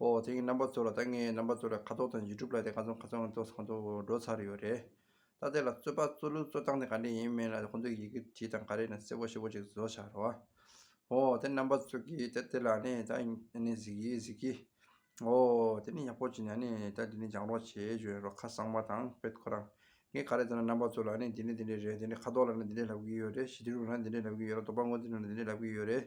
ཨོ་དེ་གཉིས་རྣམ་པ་གཙོ་ལ་ད་ངས་རྣམ་པ་གཙོ་ལས་ཁ་དོག་དང་ཡིད་སྒྲུབ་ལ་དེ་ག་ཚོད་ག་ཚོད་གཙོ་གང་ཚོད་འགྲོ་ཚར་ཡོད་རེད། ད་དེ་ལ་རྩོད་པ་གཙོ་ལུགས་གཙོ་སྟངས་དེ་ག་འདྲས་ཡིན་མིན་ལ་ཁོང་ཚོས་ཡི་གེ་བྲིས་དང་ག་རེ་ནས་གསལ་བོ་ཤེས་བོ་ཅིག་བཟོ་བྱ་རོགས། ཨོ་དེ་རྣམ་པ་གཙོ་གི་ད་དེ་ལ་ནི་ད་ནི་གཟིགས་ཀྱི་གཟིགས་ཀྱི། ཨོ་དེ་ནི་ཡག་པོ་བྱས་ནས་ནི་ད་འདི་ནས་སྦྱངས་རོགས་བྱས་བྱོས་རོགས་ཁ་གསང་བ་དང་དཔེ་ཁོ་རང་ངས་ག་རེ་བསྟན་ན་རྣམ་པ་གཙོ་ལ་ནི་འདི་འདྲས་འདི་འདྲས་རེད་འདི་འདྲས་ཁ་དོག་ལ་ནི་འདི་འདྲས་ལབ་ཀྱི་ཡོད་རེད་ཞི་བདེ་རུ་ལ་ནི་འདི་འདྲས་ལབ་ཀྱི་ཡོད་རེད་རྡོ་པ་མགོ་འདི་ལ་ནི་འདི་འདྲས་ལབ་ཀྱི་ཡོད་རེད།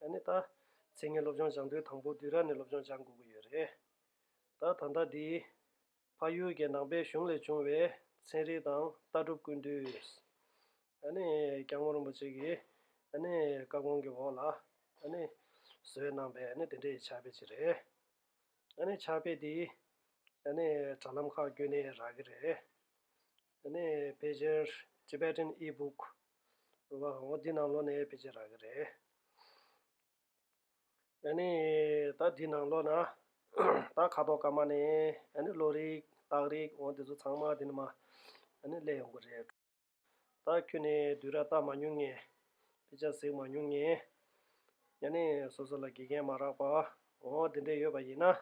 ད་ནི་ད། ཚེ་ངས་སློབ་སྦྱོང་སྦྱང་དུས་དང་པོ་དུས་ར་ནས་སློབ་སྦྱོང་སྦྱང་དགོས་ཀྱི་ཡོད་རེད། ད་ད་ལྟ་འདི། ཕ་ཡུལ་གྱི་ནང་པའི་གཞུང་ལས་བྱུང་བའི་ཚན་རིག་དང་ལྟ་གྲུབ་ཀུན་བཏུས། ད་ནི་སྐྱ་སྔོ་རིན་པོ་ཆེ་གིས་ད་ནི་བཀའ་དགོངས་ཀྱི་འོག་ལ་ད་ནི། བཟོས་གནང་པའི་ད་ནི་དེ་འདྲའི་ཕྱག་དཔེ་ཅིག་རེད། ད་ནི་ཕྱག་དཔེ་འདི། ད་ནི་དྲ་ལམ་ཁག་བརྒྱུད་ནས་རག་གི་རེད། དེ་ནས་ཕལ་ཆེར Tibetan E-Book རུ་བ་གང་བོ་འདི་ནང་ལོགས་ནས་ཕལ་ཆེར་རག་གི་རེད། ད་ནི་ད་འདི་ནང་ལོགས་ན་ད་ཁ་དོག་སྐར་མ་ནས་ད་ནི་ལོ་རིགས་སྟག་རིགས་འོ་འདི་ཚོ་ཚང་མ་འདི་ནས་མ་ད་ནི་གླས་ཡོང་གི་རེད། ད་ཁྱོད་ནས་དུས་ར་བལྟ་མ་མྱོང་ངས་ཕལ་ཆེར་གཟིགས་མ་མྱོང་ངས་ཡ་ནི་སོ་སོ་ལ་དགེ་རྒན་མ་རག་པ་འོ་འདི་འདྲས་ཡོད་པ་ཡིན་ན་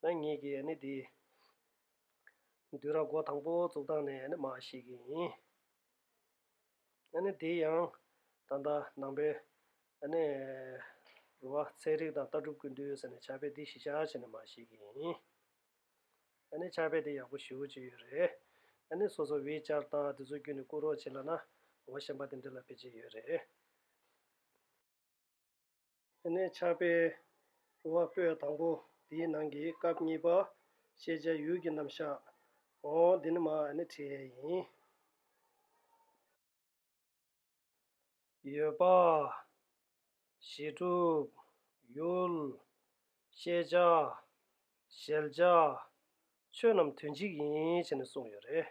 ད་ངེད་ཀྱིས་ཡ་ནི་འདི་བདུན་ར་སྒོ་དང་པོ་བཙུགས་སྟངས་ནས་ནི་མ་ཞིག་ཡིན། ཡང་ནི་དེ་ཡང་ད་ལྟ་ནང་པའི་ཡང་ནི་རུ་བ་ཚན་རིག་དང་ལྟ་གྲུབ་ཀུན་བཏུས་ཟེར་ནས་བྱ་བའི་སྡིག་ཞི་བྱ་བྱེད་ནི་མ་ཞིག་ཡིན། ཡང་ནི་བྱ་བའི་དེ་ཡག་པོ་ཞུ་ཅི་ཡོད་རེད། ཡང་ནི་སོ་སོ་བེད་སྤྱར་སྟངས་དེ་ཚོ་བརྒྱུད་ནི་བསྐུར་རོགས་བྱེད་ལ་ན་འོ་ཞེན་པ་དེ་འདྲི་ལ་ཕེད་ཅི་ཡོད་རེད། དེ་ནས་ཕྱག་དཔེ་རུ་བ་སྤོས་དང་པོ་དེའི་ནང་གི་སྐབས་གཉིས་པ་ཤེས་བྱའི་ཡུལ་གྱི་རྣམ་གཞག་ངོ། འདི་ནི་མ་ཧཱའི་ཡན་ཡིན། ཡོད་པ། གཞི་གྲུབ། ཡུལ། ཤེས་བྱ། ཤེལ་བྱ། ཆོས་རྣམས་དོན་གཅིག་ཡིན་ཞེས་ནས་གསུངས་ཡོད་རེད།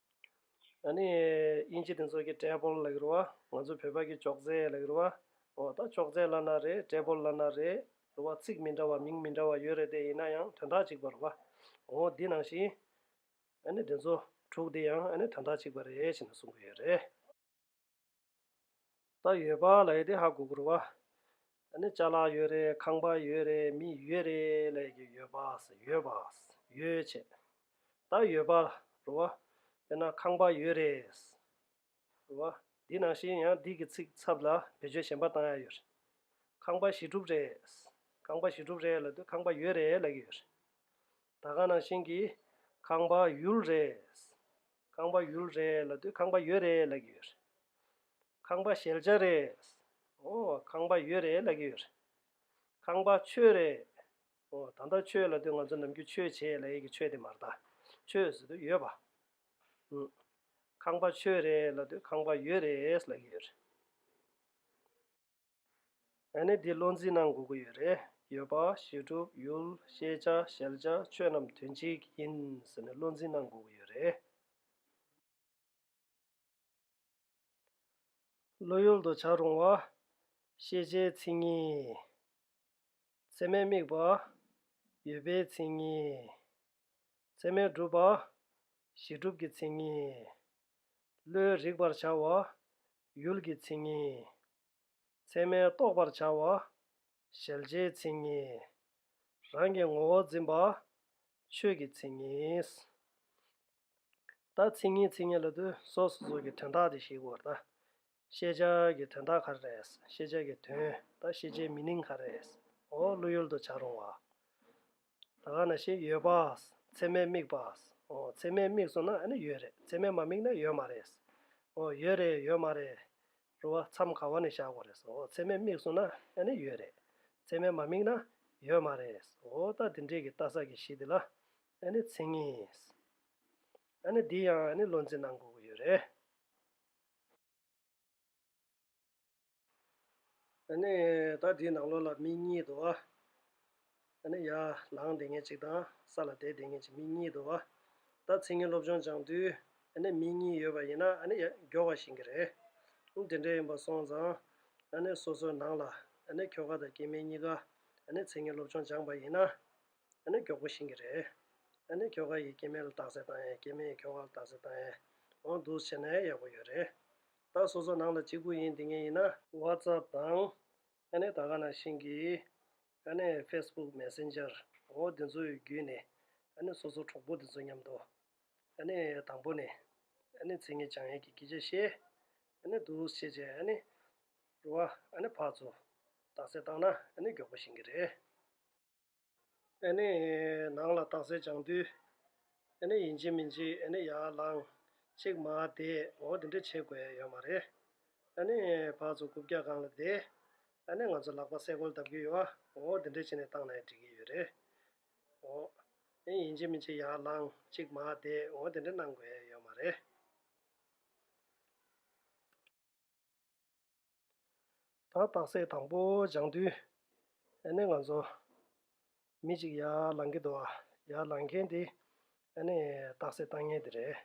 ཨ་ནི། དབྱིན་ཇི་དེ་ཚོ་གི་ཀྲེ་པོལ་ལ་གི་རུ་བ། ང་ཚོ་བོད་པ་གི་ཅོག་རྩེ་ལ་གི་རུ་བ། འོ་ད་ཅོག་རྩེ་བླ་ན་རེད་ཀྲེ་པོལ་བླ་ན་རེད། རུ་བ་ཚིག་མི་འདྲ་བ་མིང་མི་འདྲ་བ་ཡོད་རེད་དེ་ཡིན་ན་ཡང་དོན་དག་གཅིག་པ་རུ་བ། འོ་འདི་ནང་བཞིན། ཨ་ནི་དེ་ཚོ་དྲུག་དེ་ཡང་ཨ་ནི་དོན་དག་གཅིག་པ་རེད་ཅེས་ནས་གསུང་གི་ཡོད་རེད། ད་ཡོད་པ་ལ་ཡི་དེ་ཧ་གོ་གུར་བ་ནི་བཅའ་ལག་ཡོད་རེད་ཁང་པ་ཡོད་རེད་མི་ཡོད་རེད་ལས་ཀྱི་ཡོད་པ་ཡོད་པ་ཡོད་ཆེ་ད་ཡོད་པ་རུ་བ་དཔེར་ན་ཁང་པ་ཡོད་རེད་རུ་བ་འདི་ནང་བཞིན་ཡང་འདི་གི་ཚིག་ཚབ་ལ་བེད་སྤྱོད་གཞན་པ་བཏང་ཡ་ཡོད་ཁང་པ་བཞི་དྲུག་རེད་ཁང་པ་བཞི་དྲུག་རེད་ལ་དུ་ཁང་པ་ཡོད་རེད་ལས་ཀྱི་ཡོད་རེད་ད་གང་ནང་བཞིན་གྱི་ཁང་པ་ཡུལ་རེད། ཁང་པ་ཡུལ་རེད་ལ་དུས་ཁང་པ་ཡོད་རེད་ལ་གི་ཡོད་རེད་ཁང་པ་ཞལ་ལྕགས་རེད་ཨོ་ཁང་པ་ཡོད་རེད་ལ་གི་ཡོད་རེད་ཁང་པ་ཆོས་རེད་ཨོ་ད་ལྟ་ཆོས་ལ་དུས་ང་ཚོ་ནམ་རྒྱུན་ཆོས་བྱེད་ལ་ཡི་གི་ཆོས་དེ་མ་རྟ་ཆོས་ཟེར་དུས་ཡོད་པ་ཨུ་ཁང་པ་ཆོས་རེད་ལ་དུས་ཁང་པ་ཡོད་རེད་ལ་གི་ཡོད་རེད། ཨ་ནི་འདི་བློ་འཛིན་གནང་དགོས་ཀྱི་ཡོད་རེད། ཡོད་པ། ཞི་གྲུབ། ཡུལ། ཤེས་བྱ། ཞལ་བྱ། ཆོས་རྣམས་དོན་གཅིག་ཡིན། ཟེར་ནས་བློ་འཛིན་གནང་དགོས་ཀྱི་ཡོད་རེད། བློ་ཡུལ་དུ་བྱ་རུང་བ། ཤེས་བྱའི་མཚན་ཉིད། ཚད་མའི་དམིགས་པ། ཡོད་པའི་མཚན་ཉིད། མཚན་མའི་སྒྲུབ་པ། གཞི་སྒྲུབ་ཀྱི་མཚན་ཉིད། བློའི་རིག་པར་བྱ་བ། ཡུལ་གྱི་མཚན་ཉིད། མཚན་མའི་རྟོགས་པར་བྱ་བ། ཞལ་ལྕེའི་མཚན་ཉིད། རང་གི་ངོ་བོ་འཛིན་པ། ཆོས་ཀྱི་མཚན་ཉིད། ད་མཚན་ཉིད་མཚན་ཉིད་ལ་དུས་སོ་སོ་སོ་ཀྱི་དོན་དག་དེ་ཞིག་གོ། ད་ཤེས་བྱ་ཀྱི་དོན་དག་ག་རེད། ཤེས་བྱ་ཀྱི་དོན་དང་ཤེས་བྱའི་མི་ནིང་ག་རེད། འོ་བློ་ཡུལ་དུ་བྱ་རུང་བ། ད་ག་ན་ཤེས་ཡོད་པ། ཚད་མས་དམིགས་པ། འོ་ཚད་མས་དམིགས་སོང་ན་ཨ་ནི་ཡོད་རེད་ཚད་མས་མ་དམིགས་ན་ཡོད་མ་རེད། འོ་ཡོད་རེད་ཡོད་མ་རེད། རུང་བ་མཚམས་ག་བ་ནས་བཞག་གོ་རེད། འོ་ཚད་མས་དམིགས་སོང་ན་ཨ་ནི་ཡོད་རེད་ཚད་མས་མ་དམིགས་ན་ཡོད་མ་རེད། འོ་ད་དེ་འདྲས་ཀྱི་ལྟ་ས་ཀྱི་གཞི་དེ་ལ་ཨ་ནི་མཚན་ཉིད། ཨ་ནི་འདི་ཡང་ཨ་ནི་བློ་འཛིན་གནང་དགོས་ཀྱི་ཡོད་རེད། ནི་ད་དེའི་ནང་ལོགས་ལ་མི་གཉིས་དོ། ནི་ཡར་ལངས་དེ་ངེད་ཅིག་དང་ས་ལ་དེད་དེ་ངེད་ཅིག་མི་གཉིས་དོ། ད་ཚིག་ངན་སློབ་སྦྱོང་སྦྱང་དུས། ནི་མི་གཉིས་ཡོད་པ་ཡིན་ན་ནི་མགྱོགས་བ་ཞིག་གི་རེད། དེ་འདྲ་ཡིན་པ་སོང་ཙང། ནི་སོ་སོའི་ནང་ལ། ནི་ཁྱོ་ག་དང་སྐྱེས་དམན་གཉིས་ཀ། ནི་ཚིག་ངན་སློབ་སྦྱོང་སྦྱངས་པ་ཡིན་ན། ཡང་ན་མགྱོགས་པོ་ཕྱིན་གྱི་རེད། ཡང་ན་ཁྱོ་ག་ཡིས་སྐྱེས་དམན་ལ་རྟགས་གསལ་བཏང་ཡང་སྐྱེས་དམན་ཡིས་ཁྱོ་ག་ལ་རྟགས་གསལ་བཏང་ཡང། འོང་འདུག་ཟེར་ན་ཡང་ཡག་པོ་ཡོད་རེད། ད་སོ་སོ་ནང་ལ་གཅིག་པུ་ཡིན་འདི་ངས་ཡིན་ན། WhatsApp དང། ཡང་ན་ད་ག་ནང་ཕྱིན་གྱི། ཡང་ན Facebook Messenger འོང་འདི་ཚོའི་བརྒྱུད་ནས། ཡང་ན་སོ་སོ་གྲོགས་པོ་འདི་ཚོ་མཉམ་དུ། ཡང་ན་དང་པོ་ནས། ཡང་ན་མཚན་ཉིད་བྱང་ཡས་ཀྱི་སྐད་ཆ་བཤད། ཡང་ན་འདུག་བཤད་བྱས་ཡང་ན། རུ་བ། ཡང་ན་ཕག་ཚོ། རྟགས་གསལ་བཏང་ན་ཡང་ན་མགྱོགས་པོ་ཕྱིན་གྱི་རེད། ཨེ་ནས་ནང་ལ་དྭངས་གསལ་སྦྱངས་དུས། ཨེ་ནས་ཡིན་གཅིག་མིན་གཅིག་ཨེ་ནས་ཡར་ལངས། གཅིག་མ་དེས་ངོ་འདི་འདྲས་བྱེད་དགོས་ཡོད་མ་རེད། ཨེ་ནས་བག་ཚོ་རྐུབ་བཀྱག་སྒང་ལ་བསྡད། ཨེ་ནས་ང་ཚོ་ལག་པ་སེ་གོལ་བརྡབ་རྒྱུ་ཡོད་ཨ་ངོ་འདི་འདྲས་བྱས་ནས་བཏང་ནའི་འགྲིག་གི་ཡོད་རེད། ཨོ། ཨེ་ནས་ཡིན་གཅིག་མིན་གཅིག་ཡར་ལངས་གཅིག་མ་དེས་ངོ་འདི་འདྲས་གནང་དགོས་ཡོད་མ་རེད། ད་རྟགས་སད་དང་པོ་སྦྱང་དུས་ཨ་ནི་ང་ཚོ་མི་གཅིག་ཡར་ལངས་ཀི་འདུག་ཡར་ལངས་མཁན་དེ་ཨ་ནི་རྟགས་སད་བཏང་ངེས་དེ་རེད་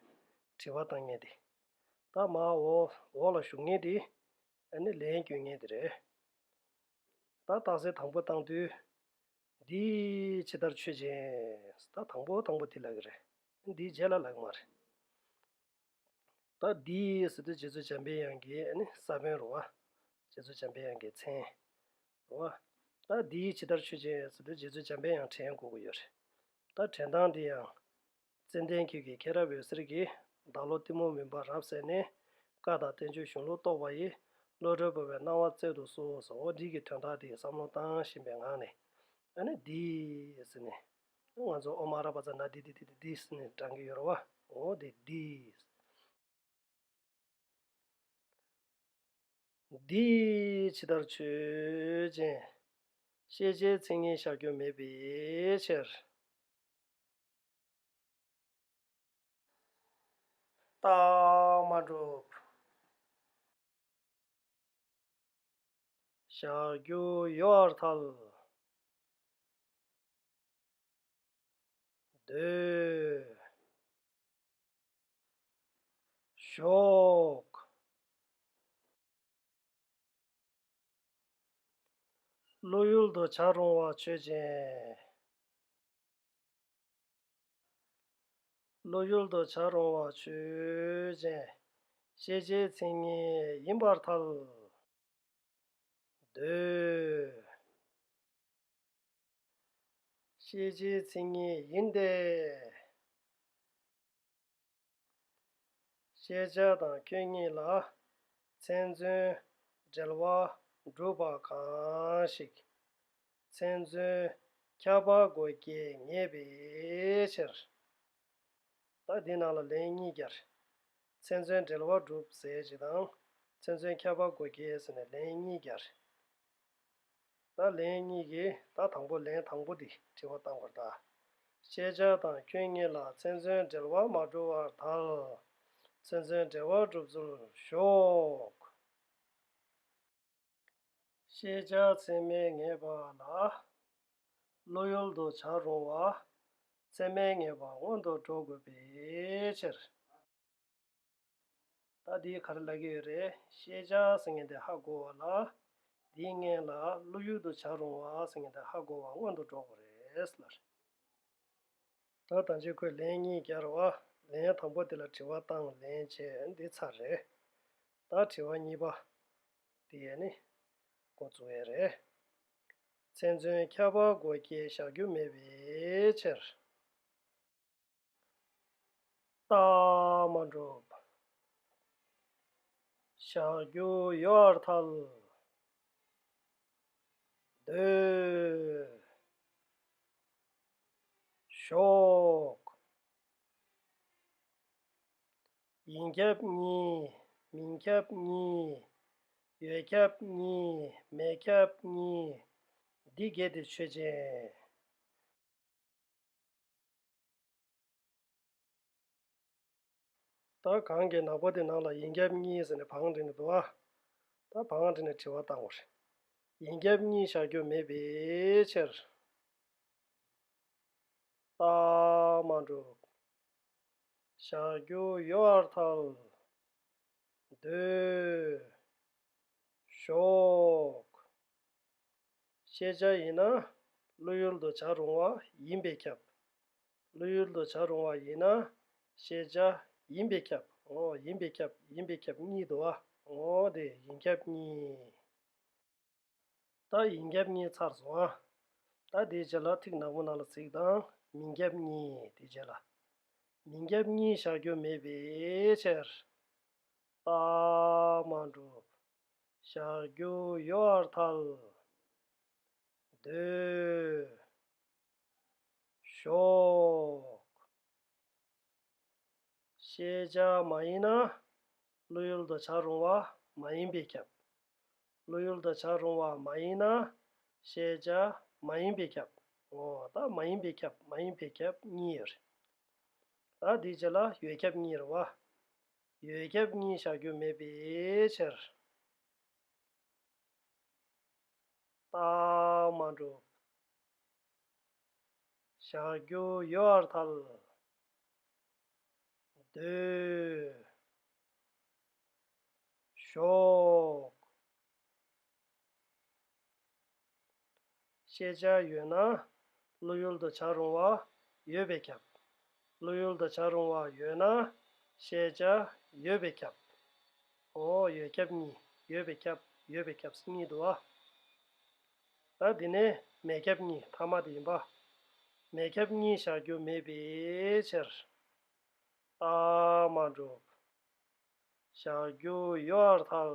དྲི་བ་བཏང་ངེས་དེ་ད་མ་འོག་འོག་ལ་བཞུགས་ངེས་དེ་ཨ་ནི་ལན་བསྐྱོན་ངེས་དེ་རེད་ད་རྟགས་སད་དང་པོ་བཏང་དུས་འདི་ཇི་ལྟར་ཆོས་ཅན་ད་དང་པོ་དང་པོ་དེ་ལགས་ཀི་རེད་འདི་རྗེས་ལ་ལགས་མ་རེད། ད་འདིའི་ཟེར་དུས་རྗེ་བཙུན་འཇམ་པའི་དབྱངས་ཀྱི་ནི་ས་བོན་རུང་བ། རྗེ་བཙུན་འཇམ་པའི་དབྱངས་ཀྱི་མཚན་རུང་བ། ད་འདིའི་ཇི་ལྟར་ཆོས་ཅན་ཟེར་དུས་རྗེ་བཙུན་འཇམ་པའི་དབྱངས་བྲན་འགུགས་ཡོད་རེད། ད་བྲན་སྟངས་འདི་ཡང། ཙན་དན་ཁྱོད་ཀྱིས་མཁྱེན་རབ་འོད་ཟེར་གྱིས་བདག་བློ་གཏི་མུག་མིན་པར་རབ་གསལ་ནས། བཀའ་དང་བསྟན་བཅོས་གཞུང་ལུགས་རྟོགས་པ་ཡིས་བློ་གྲོས་བོར་བའི་སྣང་བ་བསྩལ་དུ་གསོལ་ཟེར་འོ་འདི་གི་དོན་དག་འདི་བསམ་བློ་བཏང་བཞིན་པའི་ངང་ནས། ཨ་ནི་འདིའི་ཟེར་ནས། ང་ཚོ་ཨོ་མ་ར་པ་ཙ་ན་དི་དི་དི་དི་དིས་ནས་དྲང་གི་ཡོར་བ་འོ་དེ་དིས། དིས་ཇི་ལྟར་ཆོས་ཅན། ཤེས་བྱའི་མཚན་ཉིད་བཞག་རྒྱུ་མེད་པའི་ཕྱིར། རྟགས་མ་གྲུབ། བཞག་རྒྱུ་ཡོར་ཐལ། འདོད། ཞོག། བློ་ཡུལ་དུ་བྱ་རུང་བ་ཆོས་ཅན། བློ་ཡུལ་དུ་བྱ་རུང་བ་ཆོས་ཅན། ཤེས་བྱའི་མཚན་ཉིད་ཡིན་པར་ཐལ། འདོད། ཤེས་བྱའི་མཚན་ཉིད་ཡིན་ཏེ། ཤེས་བྱ་དང་ཁྱོད་གཉིས་ལ་མཚན་མཚོན་འབྲེལ་བ་འགྲུབ་པ་གང་ཞིག་མཚན་མཚོན་ཁྱབ་པ་སྒོ་འགེ་ངེས་པའི་ཕྱིར། ད་འདི་རྣམས་ལ་ལན་གཉིས་བརྒྱར་མཚན་མཚོན་འབྲེལ་བ་བསྒྲུབ་ཟེར་ཅིག་དང་མཚན་མཚོན་ཁྱབ་པ་སྒོ་འགེ་ཟེར་ནས་ལན་གཉིས་བརྒྱར། བརྡ་ལན་གཉིས་ཀྱི་བརྡ་དང་པོ་ལན་དང་པོ་འདི་དྲི་བ་བཏང་བར་བལྟ། ཤེས་བྱ་དང་སྐྱོན་གཉིས་ལ་མཚན་མཚོན་འབྲེལ་བ་མ་གྲུབ་བར་ཐལ། མཚན་མཚོན་འབྲེལ་བ་གྲུབ་ཚུལ་ཤོག། ཤེས་བྱ་ཚད་མའི་ངེས་པ་ལ་བློ་ཡུལ་དུ་བྱར་རུང་བ་ཚད་མའི་ངེས་པ་སྔོན་དུ་འགྲོ་དགོས་པའི་ཕྱིར། ད་འདི་ག་རེ་ལབ་ཀྱི་ཡོད་རེད་ཤེས་བྱ་ཟེར་མཁན་དེ་ཧ་གོ་བ་ལ། འདིའི་མངལ་ལ་བློ་ཡུལ་དུ་བྱ་རུང་བ་ཟེར་མཁན་དེ་ཧ་གོ་བ་སྔོན་དུ་འགྲོ་དགོས་རེད་ལ། ད་ལྟ་མཆན་ཁོས་ལན་གཉིས་བསྐྱར་བ། ལན་དང་པོ་དེ་ལ་དྲི་བ་དང་ལན་བྱས་འདི་ཚར་རེད། ད་དྲི་བ་གཉིས་པ། དེ་ཡས་ནི། འགོ་བཙུགས་ཡས་རེད། མཚན་མཚོན་ཁྱབ་པ་སྒོ་སྐྱེལ་བཞག་རྒྱུ་མེད་པའི་ཕྱིར། རྟགས་མ་འགྲུབ། བཞག་རྒྱུ་ཡོད་བར་ཐལ། སྡོད། ཞོག། ཡིན་ཁྱབ་གཉིས་མིན་ཁྱབ་གཉིས། ཡོད་ཁྱབ་གཉིས་མེད་ཁྱབ་གཉིས། འདི་གལ་ཏེ་ཆོས་ཅན། ད་གང་གི་ནག་པོ་དེ་ནང་ལ་ཡིན་རྒྱབ་གཉིས་ཟེར་ནས་བང་བྲིས་ནས་འདུག་ཨ། ད་བང་བྲིས་ནས་དྲི་བ་བཏང་བ་རེད། ཡིན་རྒྱབ་གཉིས་བཞག་རྒྱུ་མེད་པའི་ཕྱིར། རྟགས་མ་འགྲུབ། བཞག་རྒྱུ་ཡོད་བར་ཐལ། འདོད། ཞོག། ཤེས་བྱ་ཡིན་ན་བློ་ཡུལ་དུ་བྱར་རུང་བ་ཡིན་པས་ཁྱབ། བློ་ཡུལ་དུ་བྱར་རུང་བ་ཡིན་ན་ཤེས་བྱ་ཡིན་པས་ཁྱབ་ངོ། ཡིན་པས་ཁྱབ་ཡིན་པས་ཁྱབ་གཉིས་དུ་བ་ངོ། དེ་ཡིན་ཁྱབ་གཉིས། ད་ཡིན་ཁྱབ་གཉིས་ཚར་སོང་ཨ། ད་དེའི་རྗེས་ལ་ཐིག་ནག་པོ་ནང་ལ་ཚིག་དང་མིན་ཁྱབ་གཉིས་དེའི་རྗེས་ལ། མིན་ཁྱབ་གཉིས་བཞག་རྒྱུ་མེད་པའི་ཕྱིར། རྟགས་མ་གྲུབ། ཞག་བརྒྱུ་ཡོ་ཨར་ཐལ། འདོད། ཞོག། ཤེས་བྱ་མ་ཡིན་ན། བློ་ཡུལ་དུ་བྱར་རུང་བ་མ་ཡིན་པས་ཁྱབ། བློ་ཡུལ་དུ་བྱར་རུང་བ་མ་ཡིན་ན། ཤེས་བྱ་མ་ཡིན་པས་ཁྱབ། ངོ། ད་མ་ཡིན་པས་ཁྱབ་མ་ཡིན་པས་ཁྱབ་གཉིས་ཡོད་རེད། ད་དེའི་རྗེས་ལ་ཡོད་ཁྱབ་གཉིས་རེད་བ། ཡོད་ཁྱབ་གཉིས་བཞག་རྒྱུ་མེད་པའི་ཕྱིར། རྟགས་མ་གྲུབ། བཞག་རྒྱུ་ཡོད་བར་ཐལ། འདོད། ཞོག། ཤེས་བྱ་ཡོད་ན་བློ་ཡུལ་དུ་བྱ་རུང་བ་ཡོད་པས་ཁྱབ། བློ་ཡུལ་དུ་བྱ་རུང་བ་ཡོད་ན་ཤེས་བྱ་ཡོད་པས་ཁྱབ། འོ་ཡོད་ཁྱབ་གཉིས་ཡོད་པས་ཁྱབ་ཡོད་པས་ཁྱབ་སེམས་ཉིད་དུ་བ། ད་འདི་ནས་མེད་ཁྱབ་གཉིས་ཐ་མ་དེ་ཡིན་པ། མེད་ཁྱབ་གཉིས་བཞག་རྒྱུ་མེད་པའི་ཕྱིར། རྟགས་མ་གྲུབ། བཞག་རྒྱུ་ཡོད་ཨར་ཐལ།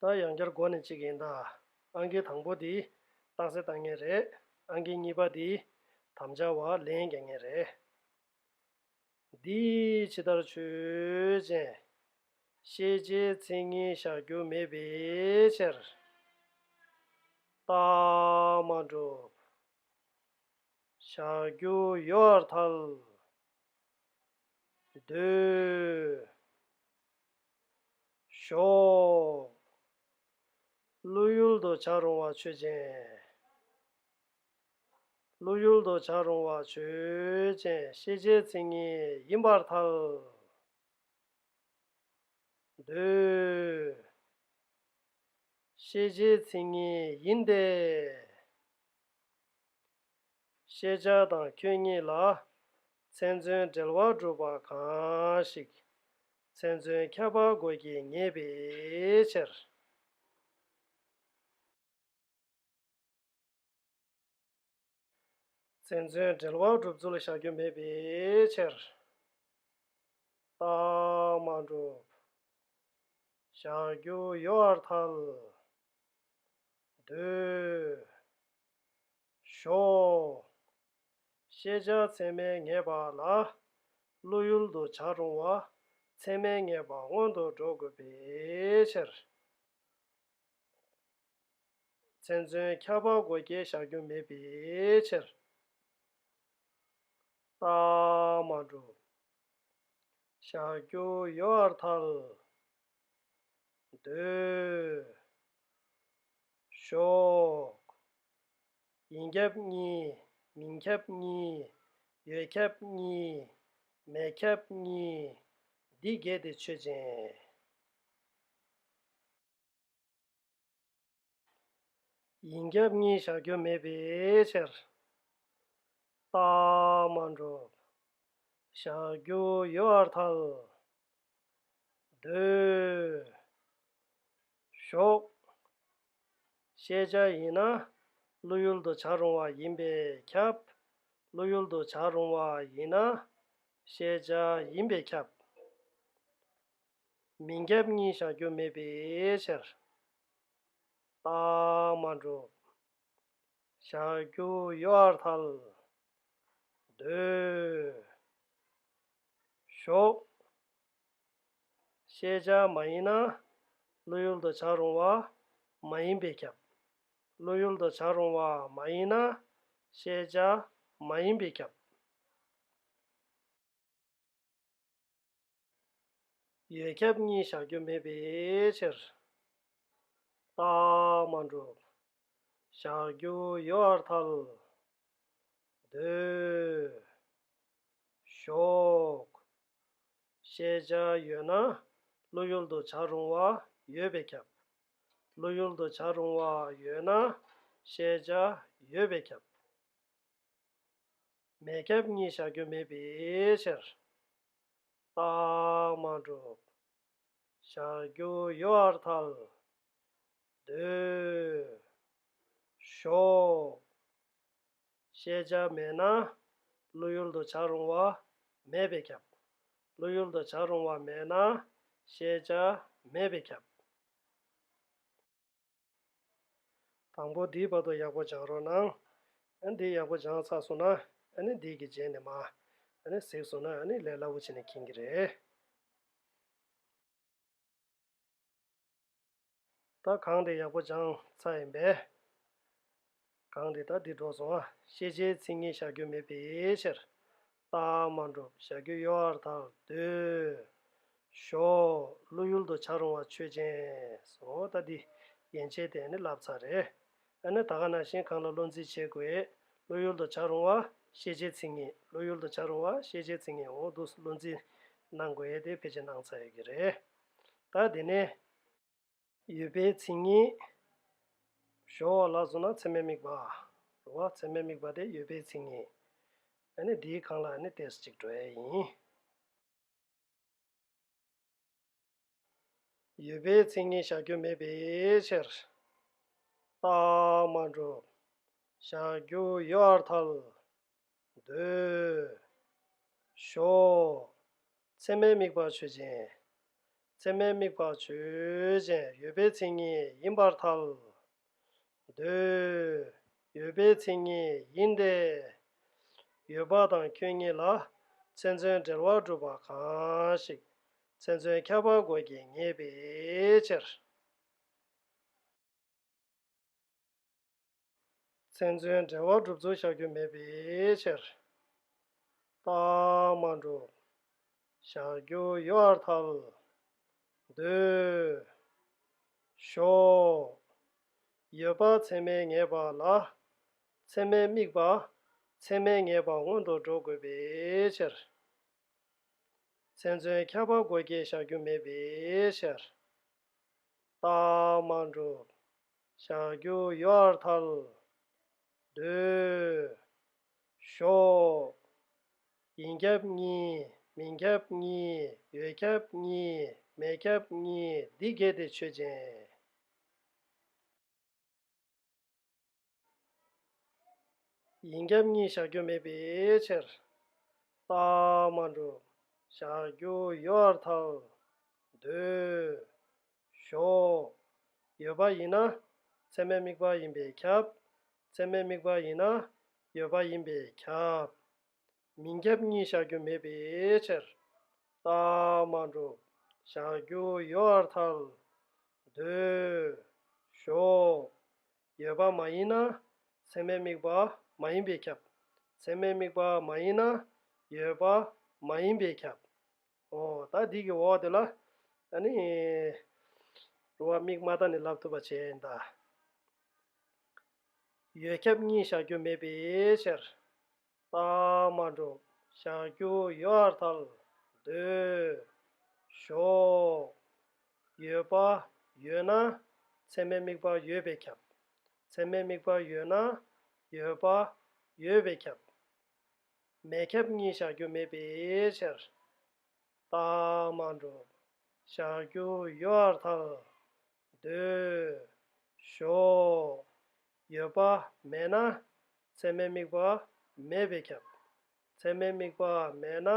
ད་ཡང་བསྐྱར་འགོ་ནས་གཅིག་ཡིན་ད། ཨང་ཀི་དང་པོ་འདི་རྟགས་གསལ་བཏང་ངེས་རེད། ཨང་ཀི་གཉིས་པ་འདི་དམ་བཅའ་བ་ལེན་རྒྱག་ངེས་རེད། འདིས་ཇི་ལྟར་ཆོས་ཅན། ཤེས་བྱའི་མཚན་ཉིད་བཞག་རྒྱུ་མེད་པའི་ཕྱིར། རྟགས་མ་གྲུབ། བཞག་རྒྱུ་ཡོད་ཐལ། འདོད། ཞོག། ཀླུ་ཡུལ་དུ་བྱ་རུང་བ་ཆོས་ཅན། ཀླུ་ཡུལ་དུ་བྱ་རུང་བ་ཆོས་ཅན་ཤེས་བྱའི་མཚན་ཉིད་ཡིན་པར་ཐལ། འདོད། ཤེས་བྱའི་མཚན་ཉིད་ཡིན་ཏེ། ཤེས་བྱ་དང་ཁྱོད་ཉིད་ལ་མཚན་མཚོན་འབྲེལ་བ་གྲུབ་པ་གང་ཞིག། མཚན་མཚོན་ཁྱབ་པར་དགོས་ཀྱི་ངེས་པའི་ཕྱིར། མཚན་མཚོན་འབྲེལ་བར་སྒྲུབ་ཚུལ་བཞག་རྒྱུ་མེད་པའི་ཕྱིར། རྟགས་མ་གྲུབ། བཞག་རྒྱུ་ཡོད་ཨར་ཐལ། འདོད། བཞོགས། ཤེས་བྱ་ཚད་མས་ངེས་པ་ལ། བློ་ཡུལ་དུ་བྱར་རུང་བ། ཚད་མས་ངེས་པ་སྔོན་དུ་འགྲོ་དགོས་པའི་ཕྱིར། མཚན་མཚོན་ཁྱབ་པ་སྒོ་བརྒྱད་བཞག་རྒྱུ་མེད་པའི་ཕྱིར། རྟགས་མ་གྲུབ། བཞག་རྒྱུ་ཡོད་ཨར་ཐལ། འདོད། ཞོག། ཡིན་ཁྱབ་གཉིས་མིན་ཁྱབ་གཉིས། ཡོད་ཁྱབ་གཉིས་མེད་ཁྱབ་གཉིས། འདི་བརྒྱད་དེ་ཆོས་ཅན། ཡིན་རྒྱབ་གཉིས་བཞག་རྒྱུ་མེད་པའི་ཕྱིར། རྟགས་མ་འགྲུབ། བཞག་རྒྱུ་ཡོད་བར་ཐལ། ཟློས། ཞོག། བཤད་བྱ་ཡིན་ན་བློ་ཡུལ་དུ་བྱར་རུང་བ་ཡིན་པས་ཁྱབ། བློ་ཡུལ་དུ་བྱར་རུང་བ་ཡིན་ན་བཤད་བྱ་ཡིན་པས་ཁྱབ། མི་འགལ་གཉིས་བཞག་རྒྱུ་མེད་པའི་ཕྱིར། རྟགས་མ་གྲུབ། བཞག་རྒྱུ་ཡོད་ཨར་ཐལ། ཟློས། ཞོག། ཤེས་བྱ་མ་ཡིན་ན། བློ་ཡུལ་དུ་བྱར་རུང་བ་མ་ཡིན་པས་ཁྱབ། བློ་ཡུལ་དུ་བྱར་རུང་བ་མ་ཡིན་ན། ཤེས་བྱ་མ་ཡིན་པས་ཁྱབ། ཡོད་ཁྱབ་གཉིས་བཞག་རྒྱུ་མེད་པའི་ཕྱིར། རྟགས་མ་འགྲུབ། བཞག་རྒྱུ་ཡོད་བར་ཐལ། འདོད། ཞོག། ཤེས་བྱ་ཡོད་ན་བློ་ཡུལ་དུ་བྱར་རུང་བ་ཡོད་པས་ཁྱབ། བློ་ཡུལ་དུ་བྱར་རུང་བ་ཡོད་ན་ཤེས་བྱ་ཡོད་པས་ཁྱབ། མེད་ཁྱབ་གཉིས་བཞག་རྒྱུ་མེད་པའི་ཕྱིར། རྟགས་མ་གྲུབ། ཞག་བརྒྱུ་ཡོལ་བར་ཐལ། འདོད། ཞོག། ཤེས་བྱ་མེད་ན། བློ་ཡུལ་དུ་བྱར་རུང་བ་མེད་པས་ཁྱབ། བློ་ཡུལ་དུ་བྱར་རུང་བ་མེད་ན། ཤེས་བྱ་མེད་པས་ཁྱབ། དང་པོ་འདིའི་བར་དུ་ཡག་པོ་སྦྱང་རོགས་གནང། འདི་ཡག་པོ་སྦྱངས་ཚར་སོང་ན། འདི་གི་རྗེས་ནས་མ། གཟིགས་སོང་ན་ལས་སླ་བོ་བྱས་ནས་ཁེངས་ཀྱི་རེད། ད་གང་དེ་ཡག་པོ་སྦྱངས་ཚར་ཡིན་པས། གང་འདི་དང་འདི་འགྲོ་སོང་ང་ཤེས་བྱའི་མཚན་ཉིད་བཞག་རྒྱུ་མེད་པའི་ཕྱིར། རྟགས་མ་འགྲུབ་བཞག་རྒྱུ་གཡོ་བར་ཐག་བཟློས། ཞོག། བློ་ཡུལ་དུ་འཆར་རུང་བ་ཆོས་ཅན། སོ། ད་འདི། ཡན་ཆད་དེ་ནི་བསླབ་ཚར་རེད། ཨ་ནི་ད་ག་ན་ཞིང་གང་ལ་བློ་འཛིན་བྱེད་དགོས། བློ་ཡུལ་དུ་འཆར་རུང་བ་ཤེས་བྱའི་མཚན་ཉིད་བློ་ཡུལ་དུ་འཆར་རུང་བ་ཤེས་བྱའི་མཚན་ཉིད་འོང་དུས་སུ་བློ་འཛིན་གནང་དགོས་དེ་ཕལ་ཆེར་གནང་ཚར་ཡོད་ཀྱི་རེད། ད་འདི་ནི། ཡོད་པའི་མཚན་ཉིད། གཞོགས་བ་ལ་སོགས་ན་མཚན་མའི་དམིགས་པ། རོ་བ་མཚན་མའི་དམིགས་པ་སྟེ་ཡོད་པའི་མཚན་ཉིད། ཨ་ནི་དེའི་གང་ལ་ཨ་ནི་དེས་གཅིག་འགྲོ་ཡས་ཡིན། ཡོད་པའི་མཚན་ཉིད་བཞག་རྒྱུ་མེད་པའི་ཕྱིར། རྟགས་མ་གྲུབ། བཞག་རྒྱུ་ཡོད་ཨར་ཐལ། ཟློས། བྷྱོ། མཚན་མའི་དམིགས་པ་ཆོས་ཅན། མཚན་མའི་དམིགས་པ་ཆོས་ཅན་ཡོད་པའི་མཚན་ཉིད་ཡིན་པར་ཐལ། ཟློས། ཡོད་པའི་མཚན་ཉིད་ཡིན་ཏེ། ཡོད་པ་དང་ཁྱོད་གཉིས་ལ་མཚན་མཚོན་འབྲེལ་བ་གྲུབ་པ་གང་ཞིག་མཚན་མཚོན་ཁྱབ་པ་དགོས་ཀྱི་ངེས་པའི་ཕྱིར། མཚན་མཚོན་འབྲེལ་བ་སྒྲུབ་ཚུལ་བཞག་རྒྱུ་མེད་པའི་ཕྱིར། པདྨ་འབྲུག། བཞག་རྒྱུ་ཡོད་ཨར་ཐལ། འདོད། ཞོག། ཡོད་པ་ཚད་མའི་ངེས་པ་ལ། ཚད་མའི་དམིགས་པ། ཚད་མའི་ངེས་པ་སྔོན་དུ་འགྲོ་དགོས་པའི་ཕྱིར། མཚན་མཚོན་ཁྱབ་པ་དགོས་ཀྱི་བཞག་རྒྱུ་མེད་པའི་ཕྱིར། རྟགས་མ་འགྲུབ། བྱ་རྒྱུ་གཡོར་ཐལ། བསྡུས། ཞོག། ཡིན་ཁྱབ་གཉིས་མིན་ཁྱབ་གཉིས་ཡོད་ཁྱབ་གཉིས་མེད་ཁྱབ་གཉིས་འདི་གལ་ཏེ་ཆོས་ཅན། ཡིན་རྒྱབ་གཉིས་བཞག་རྒྱུ་མེད་པའི་ཕྱིར། རྟགས་མ་འགྲུབ། བཞག་རྒྱུ་ཡོད་ཨར་ཐག། འདོད། ཞོག། ཡོད་པ་ཡིན་ན། ཚད་མའི་དམིགས་པ་ཡིན་པས་ཁྱབ། ཚད་མའི་དམིགས་པ་ཡིན་ན། ཡོད་པ་ཡིན་པས་ཁྱབ། མིན་རྒྱབ་གཉིས་བཞག་རྒྱུ་མེད་པའི་ཕྱིར། རྟགས་མ་འགྲུབ། བཞག་རྒྱུ་ཡོད་ཨར་ཐག། འདོད། ཞོག། ཡོད་པ་མ་ཡིན་ན། ཚད་མའི་དམིགས་པ་མ་ཡིན་པས་ཁྱབ། ཚད་མའི་དམིགས་པ་མ་ཡིན་ན། ཡོད་པ་མ་ཡིན་པས་ཁྱབ། ཨོ། ད་འདི་གི་འོག་དེ་ལ། ད་ནི། རུ་བ་དམིགས་མ་ད་ནི་ལབ་ཐུབ་པ་བྱས་ཡིན་ད། ཡོད་ཁྱབ་གཉིས་བཞག་རྒྱུ་མེད་པའི་ཕྱིར། པདྨ་འབྲུག་ཞགས་རྒྱུ་ཡོར་ཐལ་འདོད། ཞོགས། ཡོད་པ་ཡོད་ན་མཚན་མའི་དམིགས་པ་ཡོད་པས་ཁྱབ། མཚན་མའི་དམིགས་པ་ཡོད་ན་ཡོད་པ་ཡོད་པས་ཁྱབ། མེད་ཁྱབ་གཉིས་ཞགས་རྒྱུ་མེད་པའི་ཕྱིར། པདྨ་འབྲུག་ཞགས་རྒྱུ་ཡོར་ཐལ་སྡོད། ཞོག། ཡོད་པ་མེད་ན། ཚད་མའི་དམིགས་པ་མེད་པས་ཁྱབ། ཚད་མའི་དམིགས་པ་མེད་ན།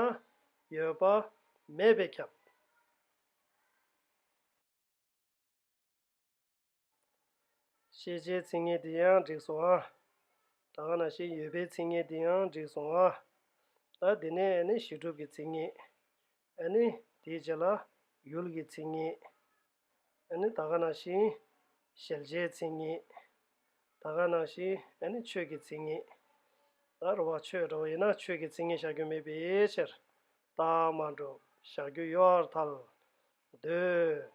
ཡོད་པ་མེད་པས་ཁྱབ། ཤེས་བྱའི་ཚིག་ངན་དེ་ཡང་འགྲིག་སོང་ཨ། དག་ན་ཤེས་ཡོད་པའི་ཚིག་ངན་དེ་ཡང་འགྲིག་སོང་ཨ། ད་དེ་ནས་ནི་ཞི་གྲུབ་ཀྱི་ཚིག་ངན། ཨ་ནི་དེའི་རྗེས་ལ་ཡུལ་གྱི་མཚན་ཉིད། ཨ་ནི་ད་ག་ན་ཞིང། ཤེལ་བྱའི་མཚན་ཉིད། ད་ག་ན་ཞིང་ཨ་ནི་ཆོས་ཀྱི་མཚན་ཉིད། ད་རུ་བ་ཆོས་འདྲ་བ་ཡིན་ན་ཆོས་ཀྱི་མཚན་ཉིད་བཞག་རྒྱུ་མེད་པའི་ཕྱིར། རྟགས་མ་འགྲུབ་བཞག་རྒྱུ་ཡོད་བར་ཐལ། འདོད།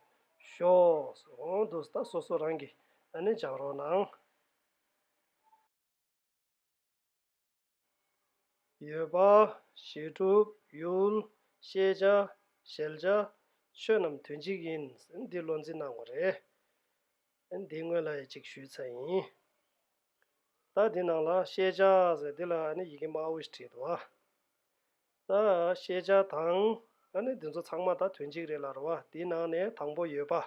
ཞོགས། འོང་དུ་ཟད་ད་སོ་སོ་རང་གིས་ཨ་ནི་སྦྱང་རོགས་གནང། ཡོད་པ། ཞེ་དྲུག་ཡུལ། ཤེས་བྱ། ཞལ་བྱ། ཆོས་རྣམས་དོན་གཅིག་ཡིན། འདི་བློ་འཛིན་གནང་བ་རེད། འདི་དངོས་ལ་ཡང་གཅིག་ཞུས་ཚར་ཡིན། ད་འདི་ནང་ལ་ཤེས་བྱ་ཟེར་འདི་ལ་ཡི་གེ་དམར་བོ་ཞིག་བྲིས་འདུག་ཨ། ད་ཤེས་བྱ་དང། ད་ནི་འདི་ཚོ་ཚང་མ་དང་དོན་གཅིག་རེད་ལ་རུང་བ་དེའི་ནང་ནས་དང་པོ་ཡོད་པ།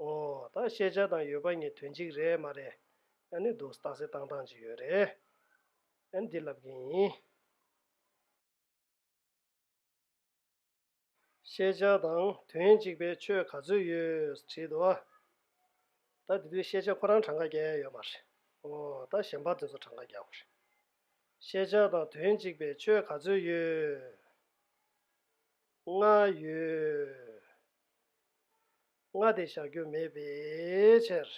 འོ། ད་ཤེས་བྱ་དང་ཡོད་པ་གཉིས་དོན་གཅིག་རེད་མ་རེད། ད་ནི་འདུག་སྟངས་སེ་བཏང་སྟངས་ཅིག་ཡོད་རེད། ད་ནི་འདི་ལབ་མཁན་ཡིན། ཤེས་བྱ་དང་དོན་གཅིག་པའི་ཆོས་ག་ཚོད་ཡོད་དྲིས་འདུག་ཨ། ད་འདི་དུས་ཤེས་བྱ་ཁོ་རང་གྲངས་ཀ་བརྒྱ་ཡོད་མ་རེད། འོ། ད་གཞན་པ་འདི་ཚོ་གྲངས་ཀ་བརྒྱ་འོ་རེད། ཤེས་བྱ་དང་དོན་གཅིག་པའི་ཆོས་ག་ཚོད་ཡོད། ལྔ་ཡོད། ལྔ་དེ་བཞག་རྒྱུ་མེད་པའི་ཕྱིར།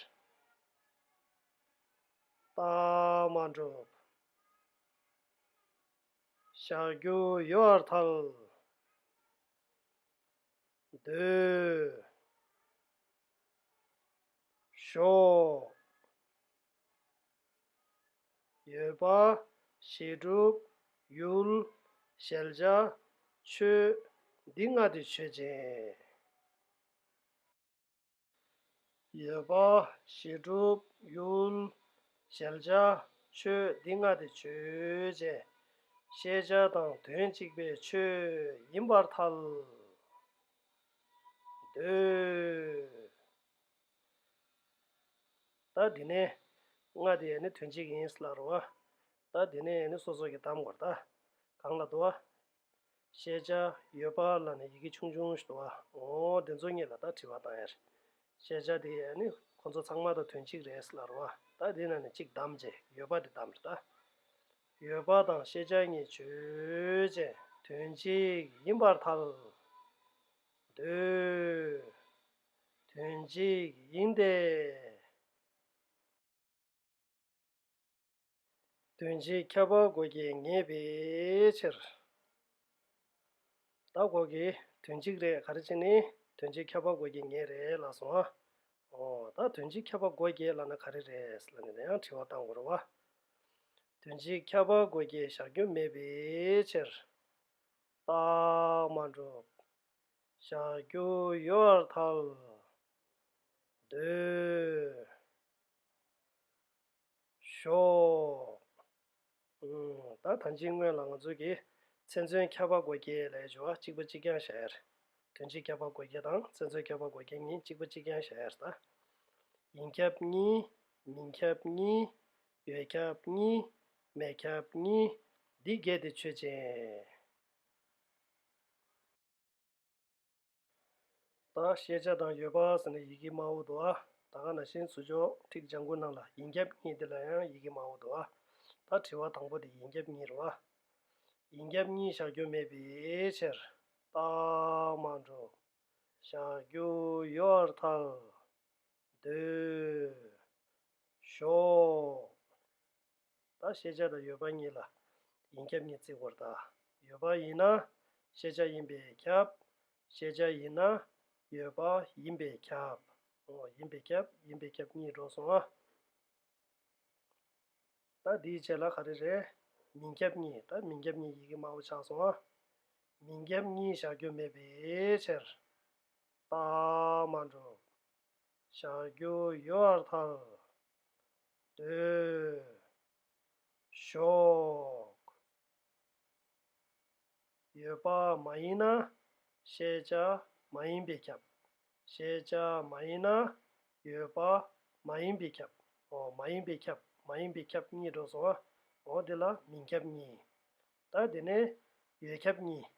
རྟགས་མ་གྲུབ། བཞག་རྒྱུ་ཡོད་བར་ཐལ། འདོད། ཞོག། ཡོད་པ། ཞེ་དྲུག། ཡུལ། ཤེལ་བྱ། ཆོས། འདི་ལྔ་དུས་ཆོས་ཅན། ཡོད་པ། ཞེ་དྲུག། ཡུལ། ཤེལ་བྱ། ཆོས་འདི་ལྔ་དུས་ཆོས་ཅན། ཤེས་བྱ་དང་དོན་གཅིག་པའི་ཆོས་ཡིན་པར་ཐལ། འདོད། ད་དེ་ནས་ང་དེ་ནི་དོན་གཅིག་ཡིན་ལ་རུང་བ། ད་དེ་ནས་ནི་སོ་སོ་གི་གཏམ་གོ་ད་གང་ལ་དུ་བ། ཤེས་བྱ་ཡོད་པ་ལ་ནི་ཡི་གེ་ཆུང་ཆུང་ཞིག་དུ་བ་ངོ། དེ་ཚོ་གཉིས་ལ་ད་དྲི་བ་དང་ཡར། ཤེས་བྱ་དེ་ནི་ཁོ་ཚོ་ཚང་མ་ད་དོན་གཅིག་རེད་ལ་རུང་བ། ད་དེ་ན་ནི་གཅིག་གདམ་བྱས་ཡོད་པ་དེ་གདམ་རེད་ད། ཡོད་པ་དང་ཤེས་བྱ་གཉིས་ཆོས་ཅན་དོན་གཅིག་ཡིན་པར་ཐལ། འདོད། དོན་གཅིག་ཡིན་ཏེ། དོན་གཅིག་ཁྱབ་པར་དགོས་ཀྱི་ངེས་པའི་ཕྱིར། ད་གོ་གི་དོན་གཅིག་རེད་ག་རེ་བྱས་ནས་དོན་གཅིག་ཁྱབ་པར་དགོས་ཀྱི་ངེས་རེད་ལགས་སོ། ཨོ་ད་དོན་གཅིག་ཁྱབ་པར་དགོས་ཀྱི་ལགས་ན་ག་རེ་རེད་ལ་ནི་ད་ཡང་དྲི་བ་གཏང་དགོས་རོ་བ། དོན་གཅིག་ཁྱབ་པར་དགོས་ཀྱི་བཞག་རྒྱུ་མེད་པའི་ཕྱིར། རྟགས་མ་གྲུབ། བྱ་རྒྱུ་ཡོད་བར་ཐལ། འདོད། ཞོག། ད་ཐ་འཇིག་སྔོན་ལ་ང་ཚོ་གིས་ཚན་རྩོན་ཁྱབ་པ་སྒོ་འགྱེད་ལས་སྦྱོར་བ་གཅིག་པ་གཅིག་རྐྱང་བྱ་ཡར། དོན་སྤྱི་ཁྱབ་པ་སྒོ་འགྱེད་དང་ཚན་རྩོན་ཁྱབ་པ་སྒོ་འགྱེད་གཉིས་གཅིག་པ་གཅིག་རྐྱང་བྱ་ཡར་ད། ཡིན་ཁྱབ་གཉིས། མིན་ཁྱབ་གཉིས། ཡོད་ཁྱབ་གཉིས། མེད་ཁྱབ་གཉིས། འདི་བརྒྱད་དེ་ཆོས་ཅན། དང། ཤེས་བྱ་དང་ཡོད་པ་ཟེར་ན་ཡི་གེ་མ་འོ་དོ་ཨ། ད་ག་ན་ཤེས་ཚུལ་ཆོག་ཁྲིགས་སྦྱང་དགོས་སྣང་ལ་ཡིན་རྒྱབ་གཉིས་དེ་ལ་ཡང་ཡི་གེ་མ་འོ་དོ་ཨ། ད་དྲི་བ་དང་པོ་དེ་ཡིན་རྒྱབ་གཉིས་རོ་ཨ། ཡིན་རྒྱབ་གཉིས་བཞག་རྒྱུ་མེད་པའི་ཕྱིར། རྟགས་མ་འགྲུབ། བཞག་རྒྱུ་ཡོད་བར་ཐལ། འདོད། ཞོག། དང་ཤེས་བྱ་དང་ཡོད་པ་གཉིས་ལ་ཡིན་ཁྱབ་གཉིས་བརྩི་བར་དང། ཡོད་པ་ཡིན་ན་ཤེས་བྱ་ཡིན་པས་ཁྱབ། ཤེས་བྱ་ཡིན་ན་ཡོད་པ་ཡིན་པས་ཁྱབ། ཡིན་པས་ཁྱབ་ཡིན་པས་ཁྱབ་གཉིས་སྒྲོགས་སོང་ང། ད་འདིའི་ཆེད་ལ་ག་རེ་རེད། མིན་ཁྱབ་གཉིས་ད་མིན་ཁྱབ་གཉིས་ཡི་གེ་སྨྲ་བོ་ཆགས་སོང་ང། མིན་ཁྱབ་གཉིས་བཞག་རྒྱུ་མེད་པའི་ཕྱིར། རྟགས་མ་གྲུབ། བཞག་རྒྱུ་ཡོད་བར་ཐལ། སྡོད། ཞོག། ཡོད་པ་མ་ཡིན་ན་ཤེས་བྱ་མ་ཡིན་པས་ཁྱབ། ཤེས་བྱ་མ་ཡིན་ན་ཡོད་པ་མ་ཡིན་པས་ཁྱབ། འོ་མ་ཡིན་པས་ཁྱབ་མ་ཡིན་པས་ཁྱབ་གཉིས་འགྲོ་སོང་ཨ། འོ་དེ་ལ་མིན་ཁྱབ་གཉིས། ད་དེ་ནས་ཡོད་ཁྱབ་གཉིས།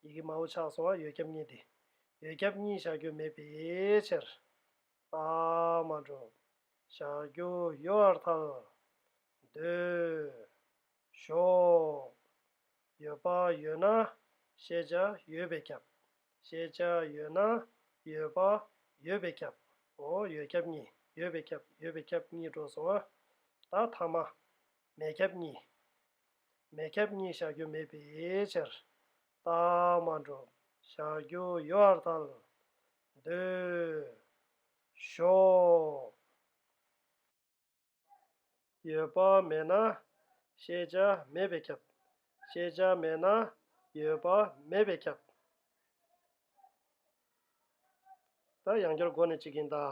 ཡི་གེ་མང་བོ་ཆགས་སོང་ཨ་ཡོད་ཁྱབ་གཉིས་དེ། ཡོད་ཁྱབ་གཉིས་བཞག་རྒྱུ་མེད་པའི་ཕྱིར། པདྨ་བསྒྲུབ། ཞག་བསྒྱུར་གཡོ་བར་ཐལ། ཟློས། ཞོག། ཡོད་པ་ཡོད་ན་ཤེས་བྱ་ཡོད་པས་ཁྱབ། ཤེས་བྱ་ཡོད་ན་ཡོད་པ་ཡོད་པས་ཁྱབ། འོ་ཡོད་ཁྱབ་གཉིས་ཡོད་པས་ཁྱབ་ཡོད་པས་ཁྱབ་གཉིས་འགྲོ་སོང་ཨ། ད་ཐ་མ། མེད་ཁྱབ་གཉིས། མེད་ཁྱབ་གཉིས་ཞག་བསྒྱུར་མེད་པའི་ཕྱིར། པདྨ་བསྒྲུབ། ཞག་བསྒྱུར་གཡོ་བར་ཐལ། འདོད། ཞོག། ཡོད་པ་མེད་ན། ཤེས་བྱ་མེད་པས་ཁྱབ། ཤེས་བྱ་མེད་ན། ཡོད་པ་མེད་པས་ཁྱབ། ད་ཡང་སྐྱར་མགོ་ནས་གཅིག་གིན་ད།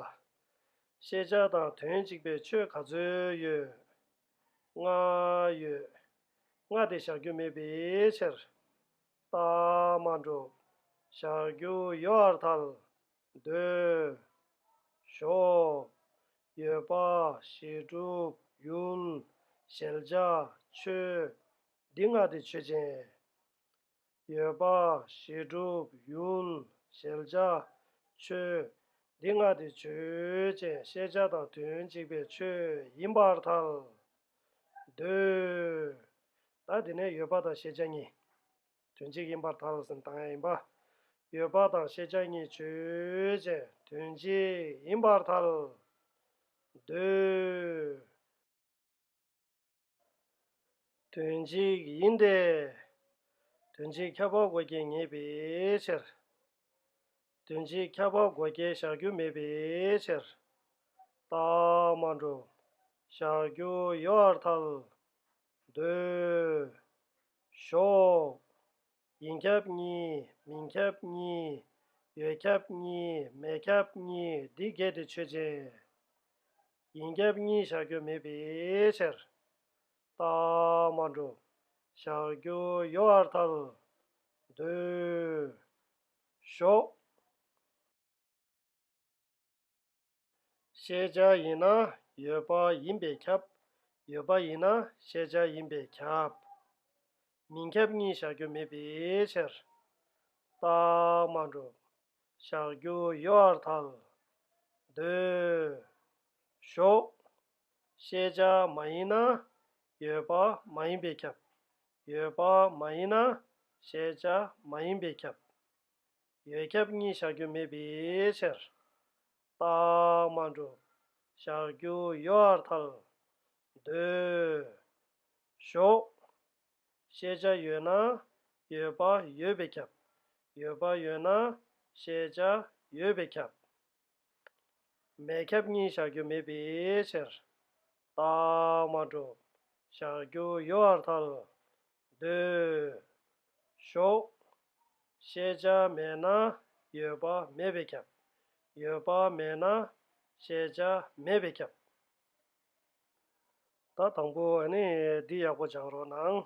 ཤེས་བྱ་དང་དོན་གཅིག་པའི་ཆོས་ག་ཚོད་ཡོད། ལྔ་ཡོད། ལྔ་དེ་བཞག་རྒྱུ་མེད་པའི་ཕྱིར། བརྟགས་མ་འགྲུབ། བཞག་རྒྱུ་ཡོད་ཨར་ཐལ། འདོད། ཞོག། ཡོད་པ། ཞེས་གྲུབ། ཡུལ། ཞལ་ཕྱག། ཆོས། འདི་ལྔ་སྟེ་ཆོས་ཅན། ཡོད་པ། ཞེས་གྲུབ། ཡུལ། ཞལ་ཕྱག། ཆོས། འདི་ལྔ་སྟེ་ཆོས་ཅན་ཤེས་བྱ་དང་དོན་གཅིག་པའི་ཆོས་ཡིན་པ་ཨར་ཐལ། འདོད། ད་དེ་ནས་ཡོད་པ་དང་ཤེས་བྱ་གཉིས། དོན་གཅིག་ཡིན་པར་ཐལ། སེམས་དང་ཡང་ཡིན་པ། ཡོད་པ་དང་ཤེས་བྱ་གཉིས་ཆོས་ཅན། དོན་གཅིག་ཡིན་པར་ཐལ། འདོད། དོན་གཅིག་ཡིན་ཏེ། དོན་གཅིག་ཁྱབ་པ་དགོས་ཀྱི་ངེས་པའི་ཕྱིར། དོན་གྱིས་ཁྱབ་པ་སྒོ་བརྒྱད་བཞག་རྒྱུ་མེད་པའི་ཕྱིར། རྟགས་མ་འགྲུབ། བཞག་རྒྱུ་ཡོད་བར་ཐལ། འདོད། ཞོག། ཡིན་ཁྱབ་གཉིས་མིན་ཁྱབ་གཉིས། ཡོད་ཁྱབ་གཉིས་མེད་ཁྱབ་གཉིས་འདི་བརྒྱད་དེ་ཆོས་ཅན། ཡིན་ཁྱབ་གཉིས་བཞག་རྒྱུ་མེད་པའི་ཕྱིར། རྟགས་མ་འགྲོ། ཞག་བརྒྱུ་གཡོ་བར་ཐལ། འདུས། ཞོག། ཤེས་བྱ་ཡིན་ན་ཡོད་པ་ཡིན་པས་ཁྱབ། ཡོད་པ་ཡིན་ན་ཤེས་བྱ་ཡིན་པས་ཁྱབ། མི་ཁྱབ་གཉིས་ཞག་བརྒྱུ་མེད་པའི་ཕྱིར། རྟགས་མ་འགྲོ། ཞག་བརྒྱུ་གཡོ་བར་ཐལ། འདུས། ཞོག། ཤེས་བྱ་མ་ཡིན་ན་ཡོད་པ་མ་ཡིན་པས་ཁྱབ། ཡོད་པ་མ་ཡིན་ན་ཤེས་བྱ་མ་ཡིན་པས་ཁྱབ། ཡོད་ཁྱབ་གཉིས་བཞག་རྒྱུ་མེད་པའི་ཕྱིར། རྟགས་མ་གྲུབ་བཞག་རྒྱུ་ཡོད་ཨར་ཐལ། ཟློས། ཞོག། ཤེས་བྱ་ཡོད་ན་ཡོད་པ་ཡོད་པས་ཁྱབ། ཡོད་པ་ཡོད་ན་ཤེས་བྱ་ཡོད་པས་ཁྱབ། མེད་ཁྱབ་གཉིས་བཞག་རྒྱུ་མེད་པའི་ཕྱིར། རྟགས་མ་གྲུབ་བཞག་རྒྱུ་ཡོད་བར་ཐལ། འདོད། ཞོག། ཤེས་བྱ་མེད་ན་ཡོད་པ་མེད་པས་ཁྱབ། ཡོད་པ་མེད་ན་ཤེས་བྱ་མེད་པས་ཁྱབ། ད་དང་པོ་ནི་འདི་ཡག་པོ་སྦྱང་རོགས་གནང།